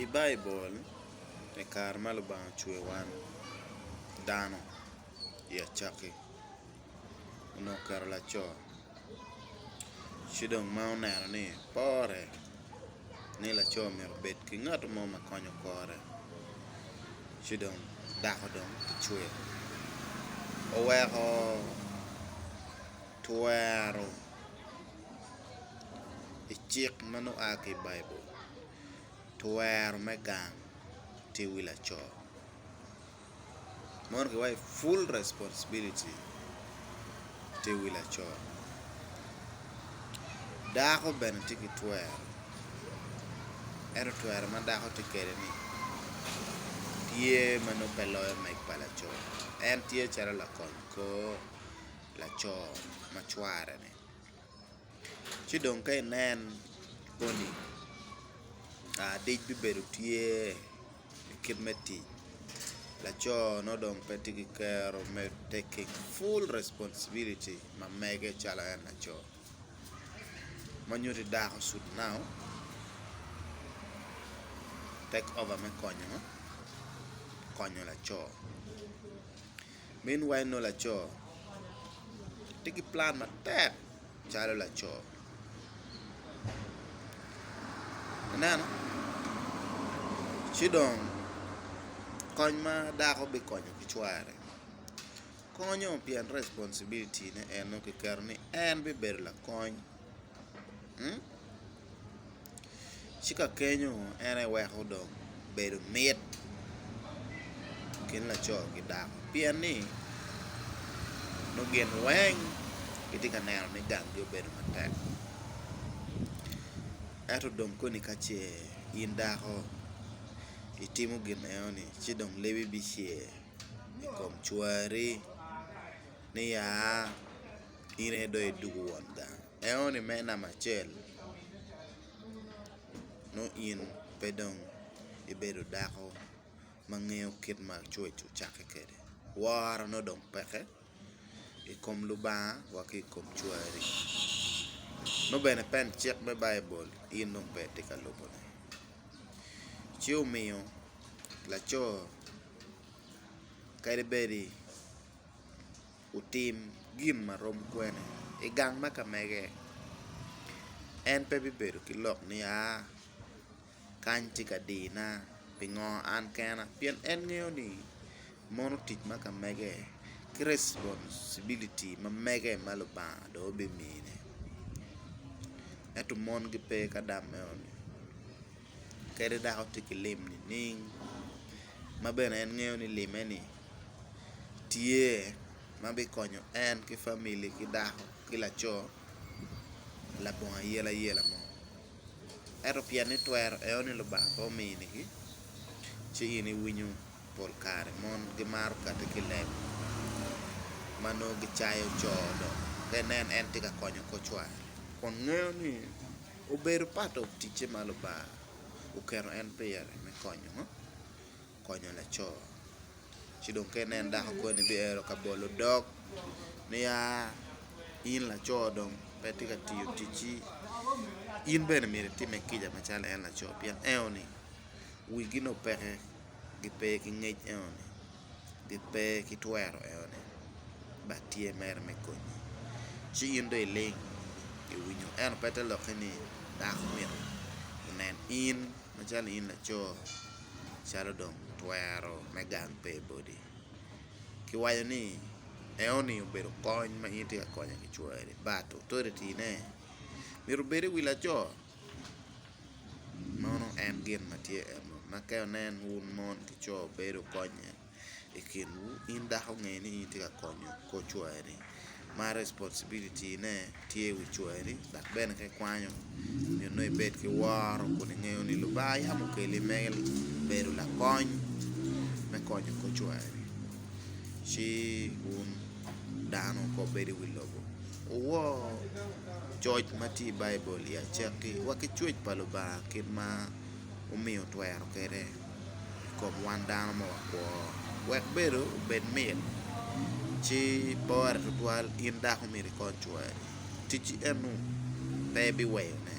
I Baibul, i kare ma Lubanga ocweyo wan dano i acakki onongo oketo laco ci dong ma oneno ni pore ni laco myero obed ki ngat mo ma konyo kore ci dong dako dong kicweyo oweko twero i cik ma nongo oa ki i Baibul, twero me gang tye wi laco mono kiwaco ni full responsibility tye wi laco dako bene tye ki twero ento twero ma dako tye kwede ni tye ma nongo pe loyo meg pa laco en tye calo lakony kor laco ma cware-ni. Ci dong ka inen moni adic bibedo tye i kit me tic laco ma dong pe tye ki kero me taking full responsibility ma mege calo en laco ma nyuto i dako should now take over me konyo laco. Min wa eno laco tye ki plan matek calo laco ineno ci dong kony ma dako bikonyo ki cware konyo pien responsibilitine en nongo kiketo ni en bibedo lakony. ci ka kenyo en aye weko dong bedo mit i kin laco ki dako pien ni nongo gin weng gitye ka neno ni gangi obedo matek ento dong koni ka ce in dako itimo gin meno ni ci dong lebi bicer i kom cwari ni ya. in aye dong idwogo won gang eno ni me namba acel nongo in pe dong ibedo dako ma ngeyo kit ma coc ocakke kwede woro nongo dong peke i kom Lubanga wa ki i kom cwari nongo bene pen cik me Baibul in dong pe itye ka lubone ci omiyo laco kadi bedi otim gin ma rom kwene i gang ma ka mege, en pe bibedo ki lok ni, 'Aa, kany tye ka dina. Pingo an kena? Pien en ngeyo ni mono tic ma ka mege ki responsibility ma mege ma Lubanga dong obimine. Ento mon gipe ka dam meno ni. kadi dok otye ki lim nining ma bene en ngeyo ni limme ni tye ma bikonyo en ki famili ki dako ki laco labongo ayela yela mo ento pien ni twero eo ni lubanga pe ominigi ci in iwinyo pol kare mon gimaro kati ki i leb ma nongo gicayo coo dong ka inen en tye ka konyo kocware kun ngeyo ni Obedo pato ticce ma Lubanga oketo en pire me konyo ngo? Konyo laco. Ci dong ka inen dako koni biero ka bolo dog niya in laco dong pe itye ka tiyo ticci in bene myero itime kica macalo en laco pien eno ni wigi nongo peke gipe ki ngec eno ni. pi pe ki twero eno ni bat tye mere me konyi ci in dong iling iwinyo eno pe te loki ni dako myero onen in macalo in laco calo dong twero me gang pe body ki waco ni eno ni obedo kony ma in itye ka konyo kicweri but authority ne myero obed i wi laco. Meno en gin ma tye ennu, ma ka inen wun mon ki co bedo konye i kinwu, in dako nge ni in itye ka konyo kor cwari. Ma responsibility ne tye i wi cwari dok bene ka ikwanyo nyo nongo ibed ki woro kun ingeyo ni Lubanga yam okeli me bedo lakony me konyo kor cwari ci wun dano kor bed i wi lobo. Wuwor coc ma tye i Baibul i acakki wa ki coc pa Lubanga kit ma wumiyo twero kwede i kom wan dano ma wakwo, wek bedo obed mit ci pore tutwal in dako myero ikony cwari. Ticci enu pe biweyone.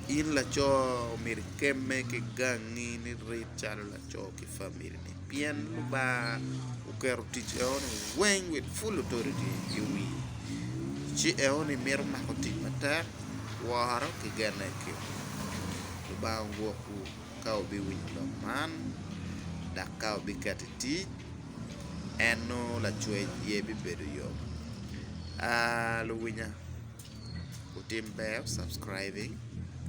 In laco myero ikemme ki gangi ni rit calo laco ki famili. pien Lubanga oketo tic enoni weng with full authority i wii ci enoni mito mako tic matek woro ki gene ki Lubanga ogwokwu ka wubiwinyo lok man dok ka wubiketo i tic en nongo lacwec aye bibedo yo luwinya wutim ber subcribing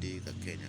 di ka kenya.